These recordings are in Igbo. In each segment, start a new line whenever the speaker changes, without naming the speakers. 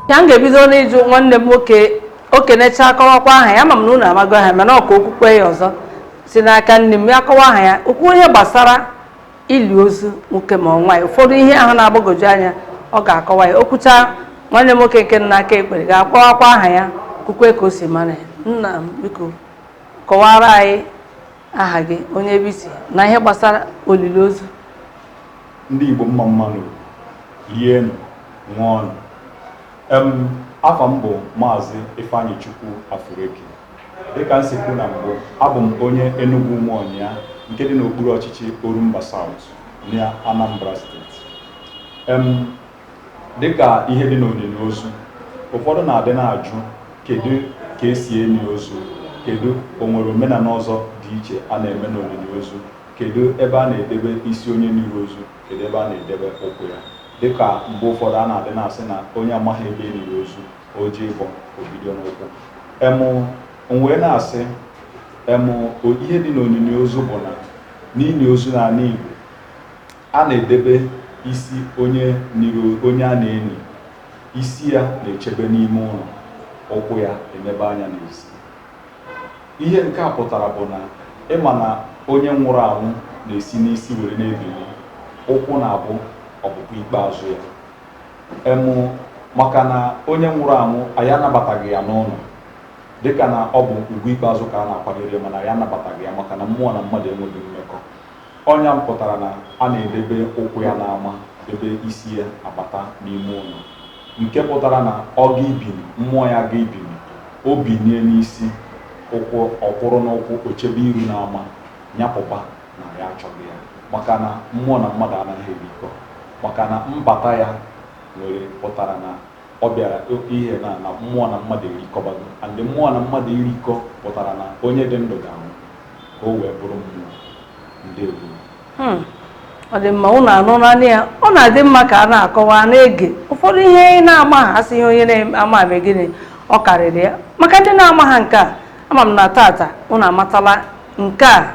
ya m ga-ebido n'ịjụ nwanne m nwoke o kenechaa akọwakwa aha ya ama m na unu amago aha mana ka o kwukwee ya ọzọ si n'aka nni m ya kọwa aha ya o kwuo ihe gbasara ili ozu nwoke ma ọ nwaanyị ụfọdụ ihe ahụ na-agbagwoju anya ọ ga-akọwa ya o kwuchaa nwanne m nwoke nke nọ n'aka ekpe ga-akọwakwa aha ya kwukwee ka o si mara ya nna m biko kọwara anyị aha gị onye ebe i si na ihe gbasara olili ozu
ndị Igbo mma mmanụ lienụ ṅụọnụ em afa m bụ maazị Ifeanyichukwu Afureki dịka m si kwu na mbụ abụ m onye Enugwu Umuonyia nke dị n'okpuru ọchịchị Orumba South na Anambra steeti em Dị ka ihe dị n'onini ozu, ụfọdụ na-adị na-ajụ kedu ka e si eni ozu, kedu o nwere omenala ọzọ dị iche a na-eme n'onini ozu, kedu ebe a na-edebe isi onye e niri ozu, kedu ebe a na-edebe ụkwụ ya. Dị ka mgbe ụfọdụ a na-adị na-asị na onye amaghị ebe e niri ozu, o jee ịbọ, o bido n'ụkwụ. Em, m wee na-asị, em, o- ihe dị n'onini ozu bụ na n'ini ozu n'ala Igbo, A na-edebe isi onye e niri onye a na-eni isi ya na-echebe n'ime ụnọ, ụkwụ ya enebe anya n'ezi. Ihe nke a pụtara bụ na ị ma na onye nwụrụ anwụ na-esi n'isi were na-ebini, ụkwụ na-abụ ọpụpụ ikpeazụ ya. Em maka na onye nwụrụ anwụ anyị anabataghị ya n'ụnọ dịka na ọ bụ ugwu ikpeazụ ka a na-akwanyere ya mana anyị anabataghị ya maka na mmụọ na mmadụ enweghị mmekọ. Ọ nya pụtara na a na-edebe ụkwụ ya n'ama debe isi ya abata n'ime ụnọ, nke pụtara na ọ ga ibini, mmụọ ya ga ibini, o binie n'isi, ụkwụ ọ kwụrụ n'ụkwụ, o chebe iru n'ama, nya pụba na anyị achọghị ya. Maka na mmụọ na mmadụ anaghị ebikọ. Maka na mbata ya nwere pụtara na Ọ bịara oke ihe na na mmụọ na mmadụ erikọbago and mmụọ na mmadụ irikọ pụtara na onye dị ndụ ga-anwụ ka o wee bụrụ mmụọ. Ndewo. Hmm. ọ
dị mma ụnụ anụna nị ya ọ na-adị mma ka a na-akọwa na-ege ụfọdụ ihe anyị na-amaha a sị ihe onye na-amaha mee gịnị ọ karịrị ya maka ndị na-amaha nke a ama m na tata ụnụ amatala nke a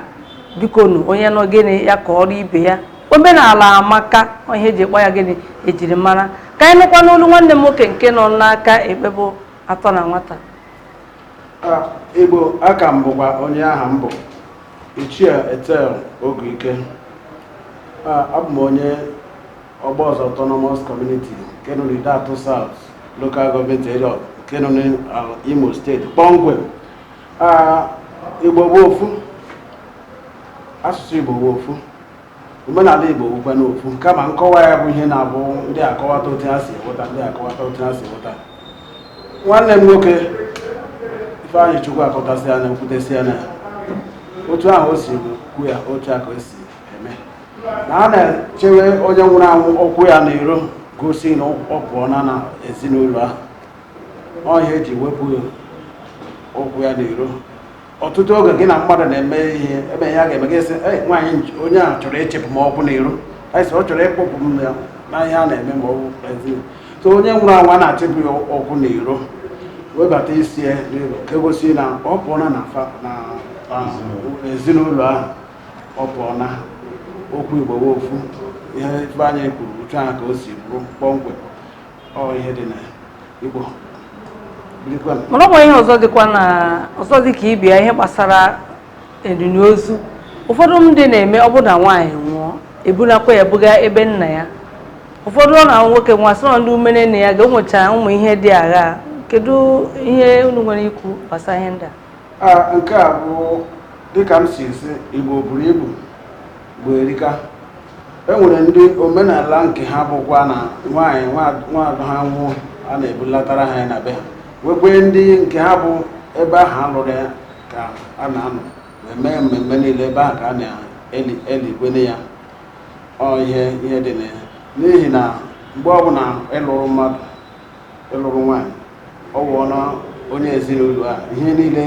bikonụ onye nụ gịnị ya kọọrọ ibe ya omenala amaka ihe e ji akpọ ya gịnị ejirimara ka anyị nụkwa n'olu nwanne m nwoke nke nọ n'aka ekpe bụ atọ na nwata Ah, Igbo
a ka m bụkwa onye aha m bụ Ichie Ethel Oguike Ah, abụ m onye Ogboza autonomous community nke nọ n'Ideato South local government area nke nọ n'Imo steeti kpọmkwem Igbo bụ ofu asụsụ Igbo bụ ofu omenala Igbo bụkwanụ ofu kama nkọwa ya bụ ihe na-abụ ndị akọwata otu ha si hụta ndị akọwata otu ha si hụta nwanne m nwoke Ifeanyịchukwu akọtasị ya na ekwutesị ya na otu ahụ o si kwu ya otu a ka o si eme na a na-echewe onye nwụrụ anwụ ụkwụ ya n'iro gosi na ọ pụọna na ezinụlọ ahụ ọ ihe eji wepụ ụkwụ ya n'iro ọtụtụ oge gị na mmadụ na-eme ihe ebe ya ga-eme gị sị nwaanyị onye ahụ chọrọ ichepụ m ụkwụ n'iro anyị ọ chọrọ ịkpọpụ m ya na ihe a na-eme ma ọ bụ so onye nwụrụ anwụ a na-echepụ ya ụkwụ n'iro webata isi ya n'iro ka egosi na ọ pụọla na ezinụlọ ahụ ọ pụọla okwu igbo ofu ihe Ifeanyị kwuru otu ahụ ka o si bụrụ kpọmkwem
mana o nwe ihe ọzọ dịkwanụ ọzọ dị ka ị bịa ihe gbasara enini ozu ụfọdụ ndị na-eme ọ bụ na nwaanyị nwụọ ebunakwa ya buga ebe nna ya ụfọdụ ọ na nwoke nwụọ a sị na ndị umere nne ya ga-emecha ụmụ ihe dị agha kedu ihe unu nwere ikwu gbasara ihe ndị a nke a
bụ dịka m si esi Igbo buru ibu Igbo erika e nwere ndị omenala nke ha bụkwa na nwaanyị nwaada ha nwụọ a na-ebulatara ha ya na be ha nwekwee ndị nke ha bụ ebe ahụ a lụrụ ya ka a na-anọ wee mee mmemme niile ebe ahụ ka a na-elikwene ya ọ ihe ihe dị na ya n'ihi na mgbe ọbụla ị lụrụ mmadụ ị lụrụ nwaanyị ọ wụọna onye ezinụlọ a ihe niile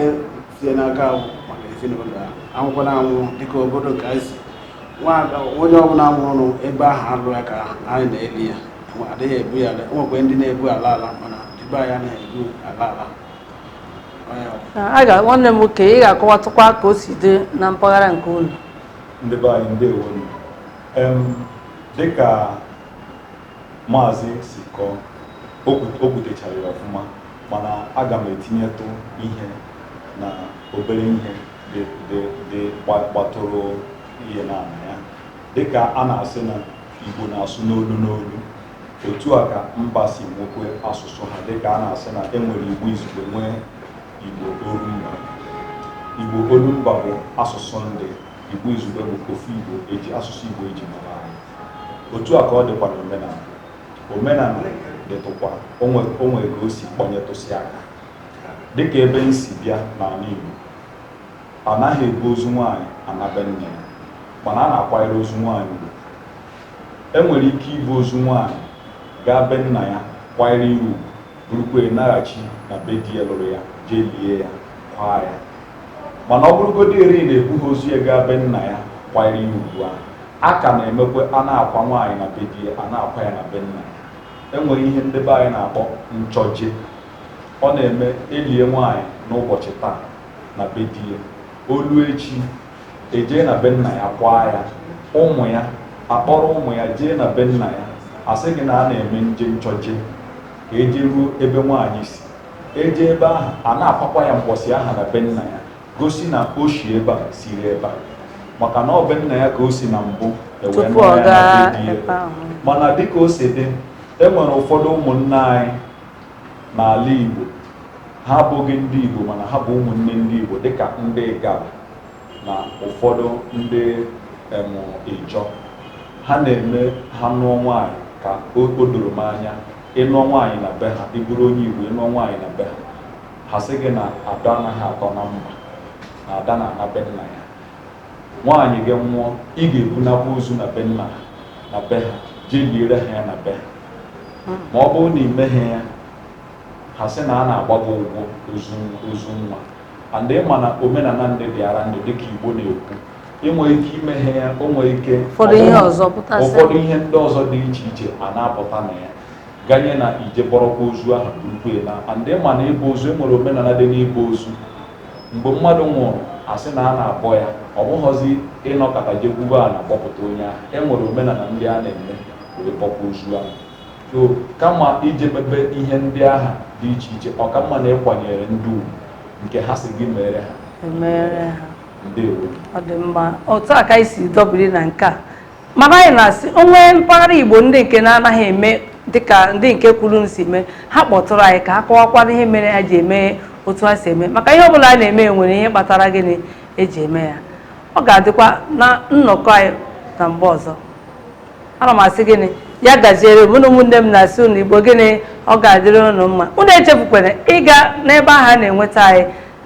sie n'aka ahụ maka ezinụlọ a anwụkwana anwụ dịka obodo nke anyị si nwaada onye ọbụla nwụrụ ebe ahụ a lụ ya ka anyị na-eli ya Enwe- adịghị ebu ya ala enwekwe ndị na-ebu ala ala mana ndị be anyị anaghị ebu ala ala
Ọ ya bụ. a ga nwanne m nwoke ị ga-akọwatụkwa ka o si dị na mpaghara nke unu ndị be anyị
ndewo nụ. Em, dịka Maazị si kọọ, o kwut- o kwutechara ya ọfụma mana aga m etinyetụ ihe na obere ihe dị dị dị gba- gbatụrụ ihe na na ya dịka a na-asị na Igbo na-asụ n'olu n'olu otu a ka mba si nwekwe asụsụ ha dịka a na-asị na e nwere Igbo izugbe nwee Igbo olumba Igbo olumba bụ asụsụ ndị Igbo izugbe bụ ofu Igbo eji asụsụ Igbo eji mara anyị otu a ka ọ dịkwa n'omenala omenala dịtụkwa o nwe ka o si kpọnyetụsị aka dịka ebe m si bịa n'ala Igbo a naghị ebu ozu nwaanyị ana be nna ya mana a na-akwanyere ozu nwaanyị ugwu e nwere ike ibu ozu nwaanyị gaa be nna ya kwanyere ya ugwu burukwa naghachi na be di ya lụrụ ya jee lie ya kwaa ya mana ọ bụrụgodị eri na e bughị ozu ya gaa be nna ya kwanyere ya ugwu ahụ A ka na-emekwe a na-akwa nwaanyị na be di ya, a na-akwa ya na be nna ya. E nwere ihe ndị be anyị na-akpọ nchọje. Ọ na-eme e lie nwaanyị n'ụbọchị taa na be di ya, o luo echi, e jee na be nna ya kwaa ya. Ụmụ ya akpọrọ ụmụ ya jee na be nna ya. A sị gị na a na-eme nje nchọje ka e jeruo ebe nwaanyị si. E jee ebe ahụ, a na-akwakwa ya mgbọsị ahụ na be nna ya. gosi na o si ebe a siri ebe a maka na ọ be nna ya ka o si na mbụ e wee nụọ ya na be di ya. mana dịka o si dị e nwere ụfọdụ ụmụnne anyị n'ala Igbo ha abụghị ndị Igbo mana ha bụ ụmụnne ndị Igbo dịka ndị Igala na ụfọdụ ndị em, Ijọ ha na-eme ha nụọ nwaanyị ka o o doro m anya ị nụọ nwaanyị na be ha ị bụrụ onye Igbo ị nụọ nwaanyị na be ha Ha sị gị na Ada anaghị atọ na mba na Ada na-ana be nna ya. Nwaanyị gị nwụọ, ị ga-ebunakwa ozu na be nna na be ha jee liere ha ya na be ha. Ma ọ bụrụ na ị meghị ya, ha sị na a na-agba gị ụgwọ ozu nwa. And ị ma na omenala ndị dịara ndị dịka Igbo na-ekwu, ị nwere ike ị meghị ya, o nwere ike ụfọdụ ihe ndị ọzọ dị iche iche a na-apụta na ya. ganye na i jee bọrọkwa ozu ahụ burukwa ya naa and ị ma na ịbọ ozu e nwere omenala dị n'ịbọ ozu mgbe mmadụ nwụrụ a sị na a na-abọ ya ọ bụghọzi ị nọkata jee gwube ana abọpụta onye ahụ e nwere omenala ndị a na-eme wee bọkwa ozu ahụ so kama ije mebe ihe ndị ahụ dị iche iche ọ ka mma na ịkwanyere ndị ugwu nke ha si gị mere ha ndewo ọ dị mma
otu a ka anyị si dọbiri na nke a mana anyị na-asị o nwee mpaghara igbo ndị nke na-anaghị eme dịka ndị nke kwuru si mee ha kpọtụrụ anyị ka ha kọwakwara ihe mere ha ji eme otu ha si eme maka ihe ọbụla a na-eme nwere ihe kpatara gịnị e ji eme ya ọ ga-adịkwa na nnọkọ anyị na mgbe ọzọ ana m asị gịnị ya gaziere mụ na ụmụnne m na-asị unu igbo gịnị ọ ga-adịrị unu mma unu echefukwala ịga n'ebe ahụ a na-enweta anyị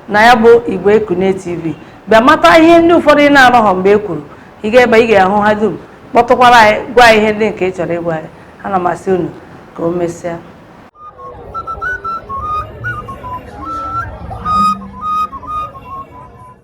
na ya bụ igbo ekunie tv bịa mata ihe ndị ụfọdụ ị na-anọghọ mgbe e kwuru ị gaa ebe a ị ga-ahụ ha dum kpọtụkwara anyị gwa anyị ihe ndị nke ị chọrọ ịgwa anyị ana m asị unu ka o mesịa